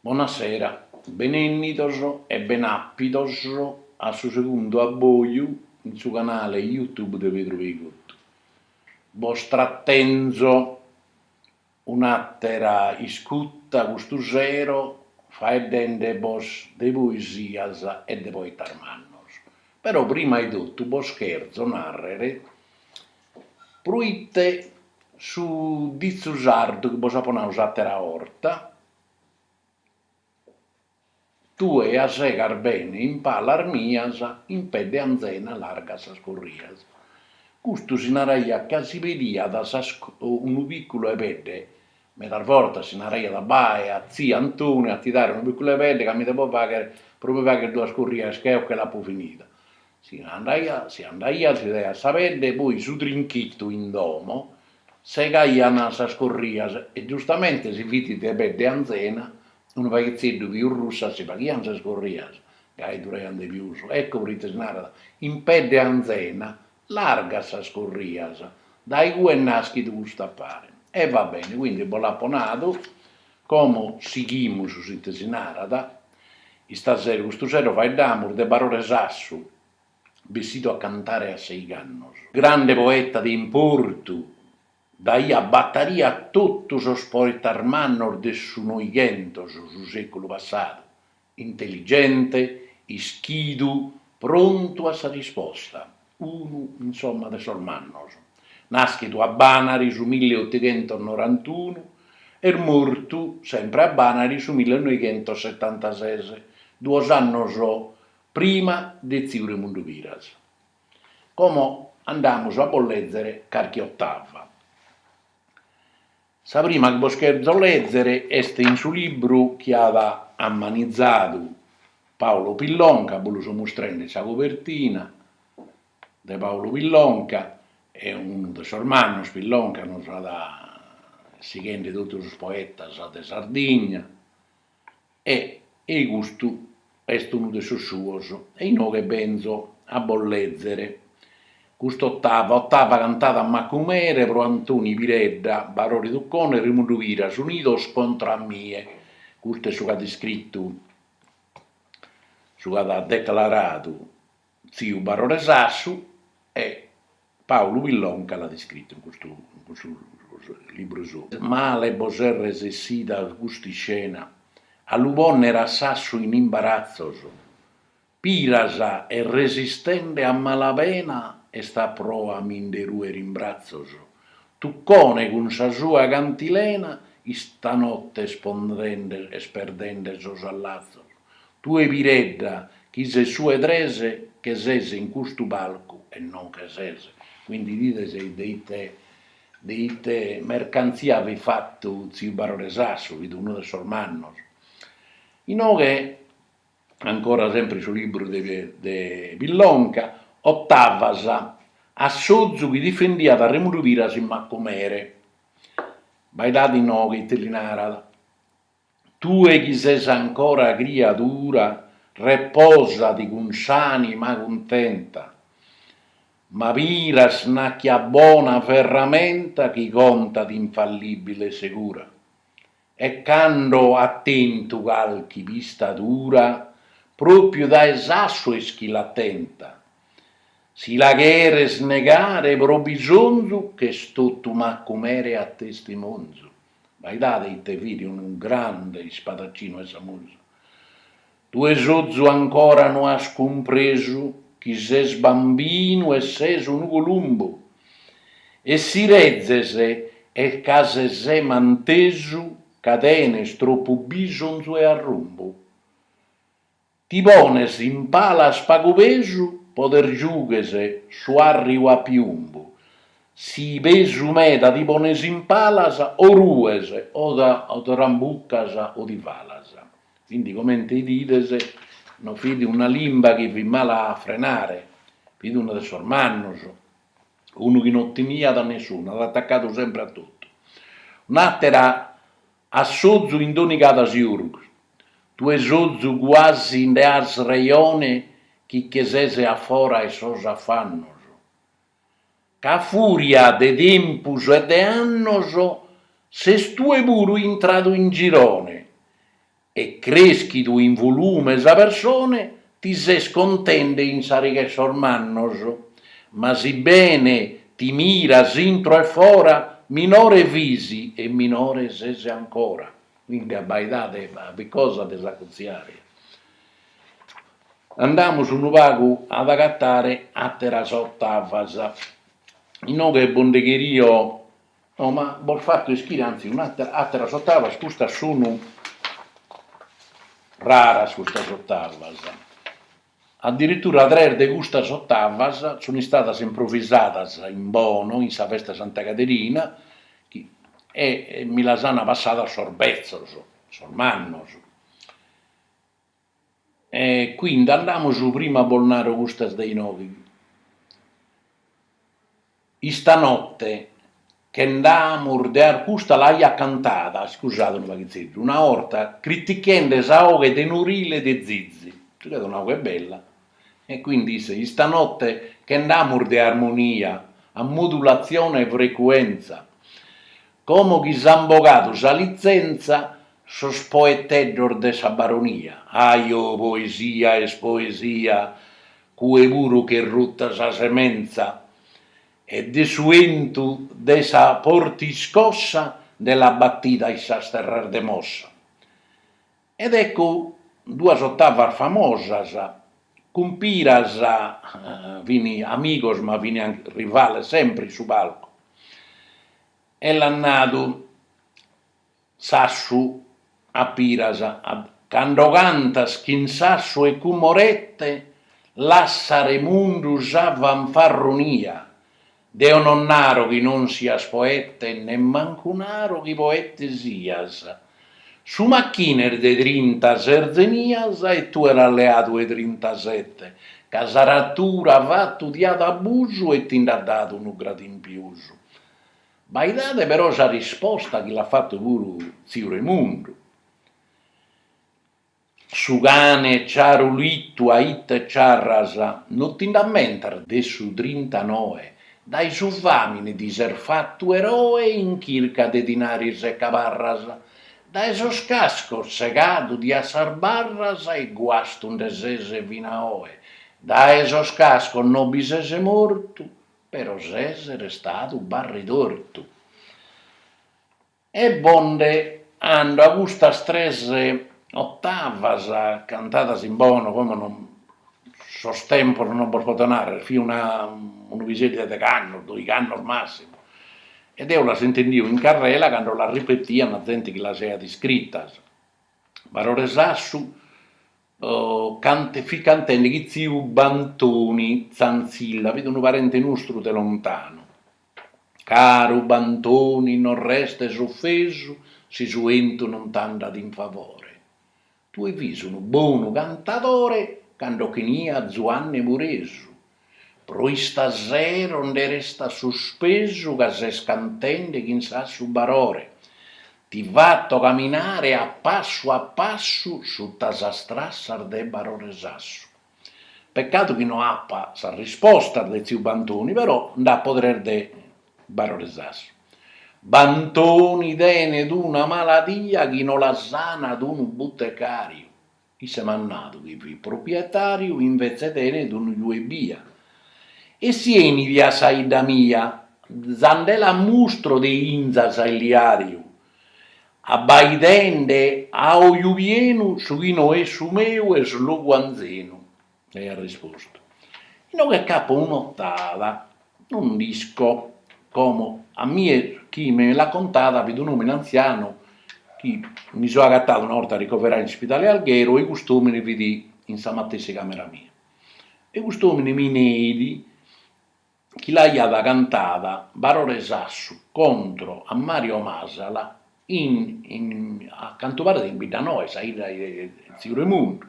Bona sera, benennidos e ben'apidos a su segundu abboju in su canale YouTube de Pedru Peicottu. Bos tratenzo un'atera iscutta custu sero faeddende ·bos de poesias e de poetas mannos. Però prima 'e tottu bos cherzo narrere Proite su ditzu sardu chi bos apo nau s'àtera 'orta, tue ja segas bene in palas mias, in pedde anzena largas sas corrias. Custu si naraiat ca si pediat unu pìculu 'e pedde, medas bortas si naraiat bae a tziu Antoni a ti dare unu pìculu 'e pedde ca mi devo fàghere pro mi fàghere duas corrias ca eo che l'apo finida. Si andaiat, si daiat sa pedde e poi su trinchitu in domo, segaian sas corrias e giustamente si fit de pedde anzena, unu paghetzeddu pius russa si faghian sas corrias, gai duraian de pius, ecco proite si narat, in pedde anzena, largas sas corrias, dae igue est naschidu cust'affare. E va bene, quindi bos l'apo nadu, Como sighimus si ite si narat, istasera custu sero faeddamus de Barore Sassu, bessidu a cantare a seigh'annos. Grande poeta de importu, daiat battaria a totu sos poetas mannos de su Noighentos, su seculu passadu, Intelligente, ischidu, prontu a sa risposta, unu in s'omma de sos mannos, nàschidu a Bànari su mille otighentos norantunu e mortu sempre a Bànari su mille noighentos setantases, duos annos prima de tziu Remundu Piras. Como andamus a bos lèzere carchi otava. Sa prima chi bos cherzo lèzere est in su libru chi at ammanizadu Paolo Pillonca, bos lu so mustrende, Sa cobertina de Paolo Pillonca, est unu de sos mannos, Pillonca nos at sighende totu sos poetas de Sardigna e custu est unu de sos suos, e inoghe benzo a bos lèzere cust'otava, otava cantada a Macumere pro Antoni Piredda, Barore Tuccone, Remundu Piras, unidos contra a mie, custu est su chi at iscritu, su chi at declaradu tziu Barore Sassu e Paulu Pillonca l'at iscritu in custu in custu libru sou. Male bos est resessida cust'iscena, a lu ponner a Sassu in imbaratzos, Piras est resistende a mala pena est a proa mi nde ruer in bratzos, Tuccone cun sa sua cantilena istanotte est pondende est perdende sos allatzos. Tue Piredda chi ses su 'e tres che ses in custu palcu e non che ses, quindi 'idides de ite de ite mercantzia fit fatu tziu Barore Sassu, fit unu de sos mannos. Inoghe ancora sempre su liburu de de Pillonca, otavas, a Sozu chi difendiat a Remundu Piras in Macumere, abbaidade inoghe ite li narat, Tue chi ses ancora criadura, reposadi cun s'anima cuntenta, ma Piras nachi at bona ferramenta chi contat infallibile e segura, e cando at tentu calchi pistadura, propriu dae Sassu est chi l'at tenta, si la cheres negare pro bisonzu ch'est totu Macumere a testimonzu. Abbaidade ite fit unu grande ispadaccinu 'e sa musa. Tue Sozu ancora no as cumpresu chi ses bambinu e ses unu columbu, e si rezes est ca ses mantesu ca tenes tropu bisonzu 'e arrumbu. Ti pones in palas pagu pesu podes giugher su 'arriu a piumbu, si pesu meda ti pones in palas o rues o trambucas o ti falas. Quindi comente 'idides no fit una limba chi fit mala a frenare, fit unu de sos mannos, unu chi no timiat a nessunu, at atacadu sempre a totu. Un'atera A Sozu in Donigala Siurgus, tue Sozu cuasi nde as reione chi che ses a fora 'e sos afannos, ca a furia de tempus e de annos ses tue puru intradu in girone e creschidu in volume sa persone Ti ses contende in sa riga 'e sos mannos, ma si bene ti miras intro e fora, minore fis e minore ses ancora. Quindi abbaidade a fit cosa de s'acurtziare. Andamus unu pagu ad agatare àteras otavas. Inoghe bos nde cherio No, ma bos fatto ischire anzi un'atera, ateras ottavas, custas sunu raras custas ottavas, addirittura tres de custas ottavas sunu istadas improvisadas in Bono in sa festa 'e Santa Caderina e mi las ana passadas sos bezzos, sos mannos. E quindi andamus prima bos naro custas de inoghe. Istanotte che nd'amus de ar custa l'aiat cantada, iscusade unu paghitzeddu, una 'orta critichende sa 'oghe tenorile de Zizi, chi fiat un'oghe bella E quindi isse, Istanotte che nd'amus de armonia, a modulatzione 'e frecuentza, como chi s'an bogadu sa litzentza sos poeteddos de sa baronia, ahi oh poesia est poesia, cue puru ch'est rutta sa sementza, e de su 'entu de sa forte iscossa nde l'at battida in sas terras de Mossa. Ed ecco duas ottavas famosas, cun Piras fin amigos ma fin rivales sempre in su palcu, e l'at nadu Sassu a Piras, cando cantas chin Sassu e cun Morette lassa Remundu sa fanfarronia, Deo non naro chi non sias poete e nemmancu naro chi poete sias. Su machine est de trintases zenias e tue l'as leadu 'e trintasete, ca sa natura fatu ti at abusu e ti nd'at dadu unu gradu in pius. Abbaidade però sa risposta chi l'at fatu puru tziu Remundu. Su cane ciarulittu a ite ciarras, no ti nd'ammentas de su trintanoe, dae su famine ti ses fattu eroe in chirca de dinaris e cabarras, dae sos cascos segadu ti as sas barras e guastu nde ses fina oe, dae sos cascos no bi ses mortu, però ses restadu barritortu. E bo nde ando a custas tres ottavas cantadas in Bono como non sos tempos non bos poto narrer, fia una unu piseddu 'e degh'annos, doigh'annos massimu, e deo las intendia in carrela cando las ripetian zente chi las aiat iscrittas, Barore Sassu fit cantende chin tziu Bantoni Zanzilla fit unu parente nostru de lontanu, Caru Bantoni non restes ofesu si su 'entu non t'andat in favore. Tue fiis unu bonu cantadore cando ch'eniat Zuanne Muresu, pro istasero nde restas suspesu ca ses cantende chin Sassu Barore. Ti fato caminare a passu a passu sutta sas trassas de Barore Sassu. Peccadu chi no apa sa risposta de tziu Bantoni, però nd'apo tres de Barore Sassu. Bantoni tenet una maladia chi no la sanat unu butecàriu, isse m'at nadu chi fit proprietàriu invetze tenet unu juu ebbia. E si 'enit a sa 'idda mia, za nde l'ammustro de inzas e uliàriu, abbaidende a oju pienu su chi no est su meu e su logu anzenu, l'aiat rispostu, inoghe ch'apo un'otada, non nd'isco, como a mie chi mi l'at contada fit un'òmine antzianu chi mi so agatadu una 'orta ricoveradu in s'ispidale Alghero e cust'òmine fit in sa matessi càmera mia e cust'òmine mi neit chi l'aiat cantada Barore Sassu contro a Mario Masala in a cantu paret in Biddanoa, sa 'idda 'e tziu Remundu,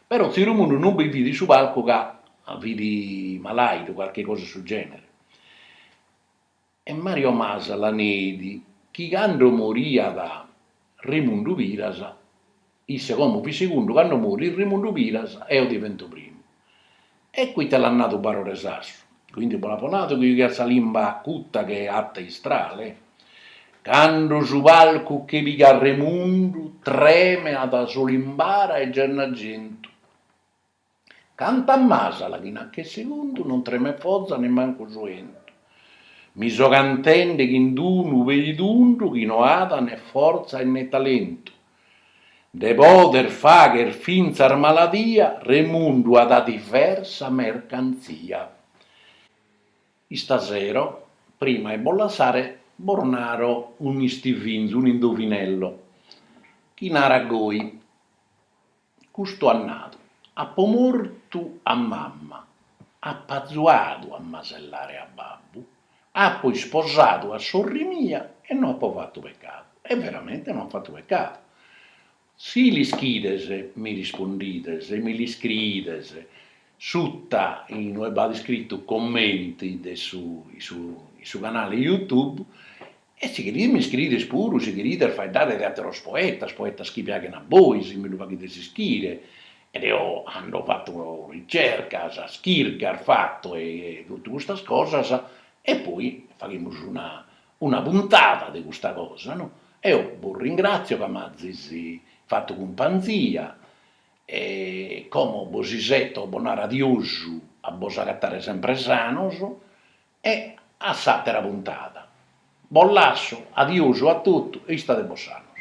però tziu Remundu non bi fit in su palcu ca fit malaidu, calchi cosa 'e su genere, e Mario Masala neit chi cando moriat Remundu Piras Isse como fit segundu cando morit Remundu Piras eo divento primu. E ite l'at nadu Barore Sassu? Cuindi bo l'apo nadu chi jughiat sa limba acuta che ata 'e istrale? Cando su palcu che pigat Remundu tremeat su Limbara e Gennargentu. Cantat Masala chi nach'est segundu non tremet foza nemmancu su 'entu mi so cantende chind'unu peitundu chi no at ne forza e ne talentu de poder fagher fintzas maladia remundu at diversa mercantzia istasero prima 'e bos lassare bos naro un'istivinzu un'indovinello chi narat goi Custu at nadu, Apo mortu a mamma, apo azuadu a masellare a babbu, apo isposadu a sorri mia e no apo fatu pecadu. E veramente no at fatu pecadu. Si l'ischides, mi rispondides, e mi l'iscriides, suta in ue b'at iscritu commenti de su in su canale YouTube, E si cherides mi scriides puru si cherides faeddare de atteros poetas, poetas chi piaghen a bois, mi lu faghides ischire e eo ando fatto ricercas, chircas fatto e tottu custas cosas e poi faghimus una una puntada de custa cosa no. Eo bos ringrazio ca m'azis fattu cumpanzia e como bos isetto bos naro adiosu a bos agattare sempre sanos E a s'àtera puntada. Bos lasso, adiosu a totu e istade·bos sanos.